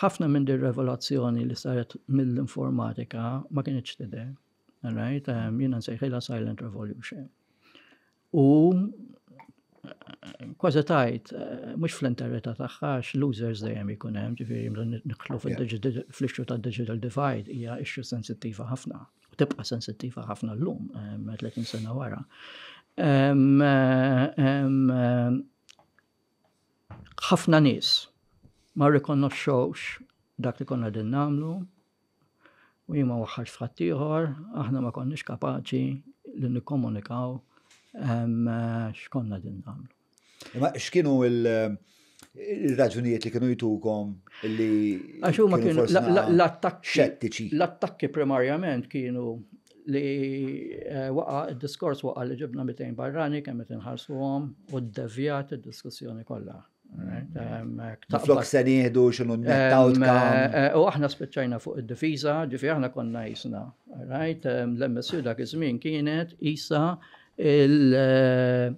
Ħafna minn din revelazzjoni li saret mill-informatika ma kienx tidher. Right? Um, Jiena nsejħilha Silent Revolution. U kważi tajt, eh, mux fl-interreta taħħa, x-losers dejjem ikun hemm, ġifiri, niklu fl-ixxu ta' digital divide, hija ixxu sensittiva ħafna, u tibqa sensittiva ħafna l-lum, 30 eh, sena wara. Eh, Ħafna nies ma rrikonnoxxewx dak li konna din nagħmlu u jien ma waħħarx f'ħadd ieħor, aħna ma konniex kapaċi li nikkomunikaw ehm, x'konna din nagħmlu. Ma x'kienu il- il-raġunijiet li kienu jitukom li. Għax huma kienu l-attakki. Xettiċi. L-attakki primarjament kienu li waqa' id-diskors waqa' li ġibna 200 barrani kemm qed inħarsuhom u ddevjat id-diskussjoni kollha. Flok se nieħdu xinu eh, U aħna spiċċajna fuq id-difiża, ġifi aħna konna jisna. Right? L-MSU dak iż-żmien kienet isa il- eh,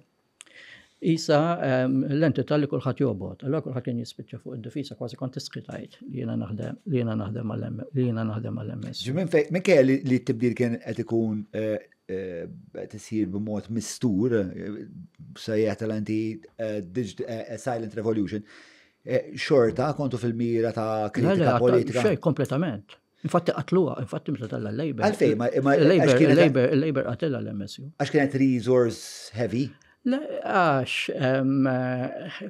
Isa l-entità li kulħadd jobgħod, allura kulħadd kien jispiċċa fuq id-difiża kważi kont tistħi tgħid li jiena naħdem li jiena naħdem mal li jiena naħdem mal ms Minn fejn minn kelli li t-tibdil kien qed ikun eh, eh, qed isir b'mod mistur eh, sejjaħ tal-anti silent revolution. Xorta kontu fil-mira ta' kritika politika. Xej, kompletament. Infatti qatluha, infatti meta tella l-Labor. Għalfej, ma il-Labor qatela l-MSU. Għax kienet resource heavy? Le, għax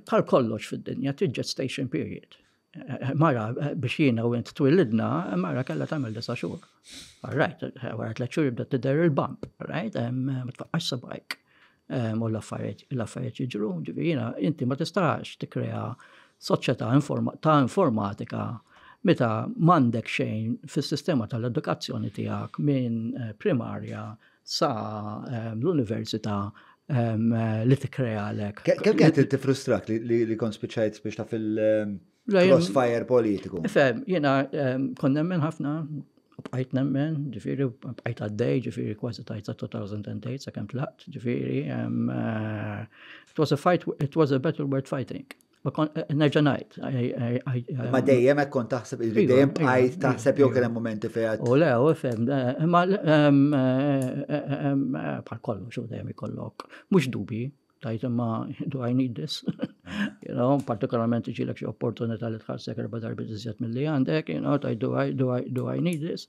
bħal kollox fid-dinja t-gestation period. Mara biex jiena u int twillidna, mara kella tagħmel disa' xhur. All right, wara tliet xhur jibda tidher il-bump, right? Ma tfaqqax sabajk. Ehm, u l-affarijiet jiġru, ġifieri jiena inti ma tistax tikkrea soċjetà ta' informatika meta m'għandek xejn fis-sistema tal-edukazzjoni tiegħek minn eh, primarja sa ehm, l-università ehm, li tikkrealek. Kemm kienet tifrustrak li kont spiċċajt biex ta' fil- Crossfire politiku. Fem, jena kon nemmen ħafna, bqajt nemmen, ġifiri, bqajt għaddej, ġifiri, kważi tajt sa 2008, sa kem tlaqt, ġifiri, eh, it was a fight, it was a battle worth fighting. Eh, nerġa' ngħid. Ma dejjem hekk kont taħseb li iva, dejjem bqajt iva, iva, taħseb jew kien hemm momenti fejn. U le, u fem, eh, ma bħal kollox u dejjem ikollok. Mhux dubi, Tajt imma do I need this? you know, partikolarment iġilek xi opportunità li tħarsek erba darbi iżjed mill-li għandek, you know, tajt do I, do I, do I need this?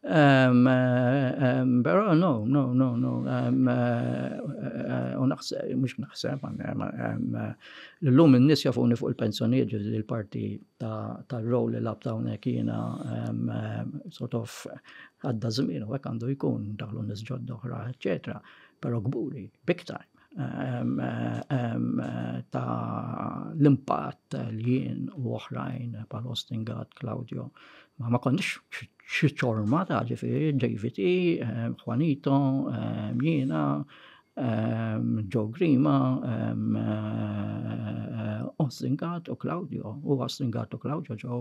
Um, um, pero no, no, no, no. Um, uh, uh, naħseb, mux naħseb, um, l-lum n-nis jafuni fuq il-pensjoniet ġizi l-parti ta' roll li lab ta' unek jina um, um, sort of għadda zmin u għek għandu jkun daħlu nis ġodda oħra, eccetera. Pero kburi, big time, ta' l-impatt li jien u oħrajn pal Austin Gatt, Claudio, ma ma konniex xi ċorma ta' ġifieri David E, Juanito, jiena, Joe Grima, Austin Gatt u Claudio, u Austin Gatt u Claudio ġew